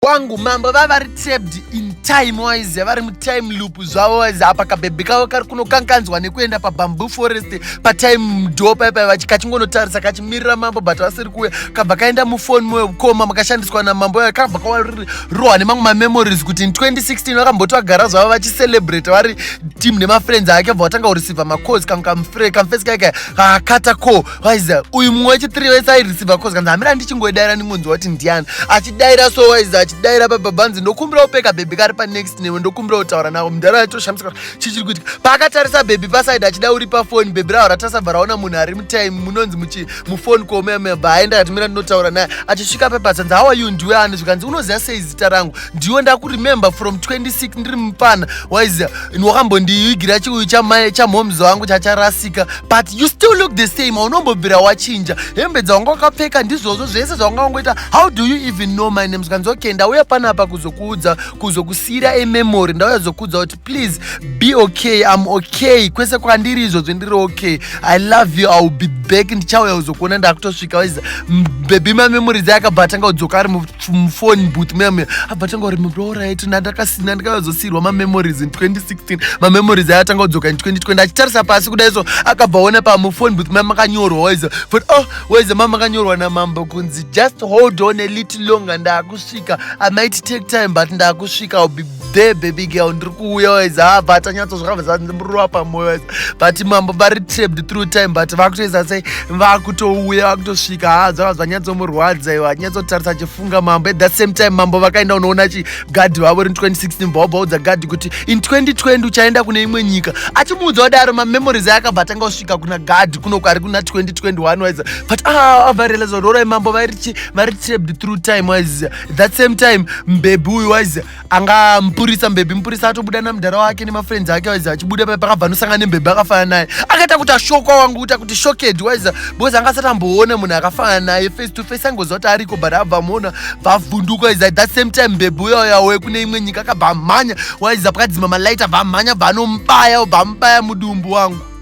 wangu mambo vava vari trapped in time wise vari mutime loop zvavo wise apa kabhebhe kavo kari kunokanganzwa nekuenda pabamboo forest patime mdo paipa kachingonotarisa kachimirira mambo but vasiri kuuya kabva kaenda mufoni mukoma makashandiswa namambo aya kabva karohwa nemamwe mamemories kuti in 2016 vakamboti vagara zvavo vachicelebrate vari team nemafriends ake bva vatanga kureceiva macoz kamfesi kaika kakata ko waiza uyu mumwe wechitiri wese airisiva cause kanzi hamira ndichingoidaira ndingonzwa kuti ndiani achidaira so waiza achidaira pababanzi ndokumbira kupeka bhebhi kari panext newe ndokumbira kutaura navo mudhara yatoshamisika chichiri kuitika paakatarisa bhebhi pasaidi achida uri pafoni bhebhi raho ratasabva raona munhu ari mutime munonzi muchi mufoni kuomemba aenda akatimira ndinotaura naye achisvika pepatsanzi how are you ndiwe ani zvikanzi unoziva sei zita rangu ndiwe ndakuremember from 26 ndiri mupana waiziva wakambondiigira chiuyu chamhoms wangu chacharasika but you still look the same aunombobvira wachinja hembe dzawanga wakapfeka ndizvozvo zvese zvawanga wangoita how do you even know my name zvikanzi okay ndauya panapa kuzokuudza kuzokusiyira ememory ndauya zokuudza kuti please be okay i'm okay kwese kwandiri izvozvo ndiri okay i love you iwill be back ndichauya uzokuona ndakutosvika waiza bebi mamemory dzaye akabatanga kudzoka ari mufoni but meme abatanga uri murorit ndandakasina ndikazosirwa mamemories in 2016 mamemories aye atanga kudzoka in 2020 achitarisa pasi kuda iso akabva ona pamufoni but mame akanyorwa waiza but oh waiza mame akanyorwa namambo kunzi just hold on a little longer ndakus kusvika i might take time but ndakusvika i'll be there baby girl ndiri kuuya wise ha ah, but anyatso zvakabva zandimurova pamoyo wise but mambo vari trapped through time but vakutoisa sei vakutouya vakutosvika ha ah, zvakabva zvanyatsomurwadza iwo anyatsotarisa achifunga mambo at that same time mambo vakaenda unoona chi gadhi vavo ri 2016 bvaobaudza gadhi kuti in 2020 uchaenda kune imwe nyika achimuudza kudaro mamemories ayakabva atanga kusvika kuna gadhi kunoku ari kuna 2021 wise but ah avarealiza rorai mambo vairi chi vari trapped through time waiziva that same time mbebhi uyu waiziva anga mupurisa mbebhi mupurisa atobuda namudhara wake nemafriends ake waiziva achibuda paye pakabva anosangana nembebhi akafanana naye akaita kuti ashokwa wangu kuita kuti shoked waiziva because anga asati amboona munhu akafanana naye face to face angoziva kuti ariko but abva amuona vavhunduka waiziva that same time mbebhi uya uya we kune imwe nyika akabva amhanya waiziva pakadzima malight abva amhanya bva anombaya bva amubaya mudumbu wangu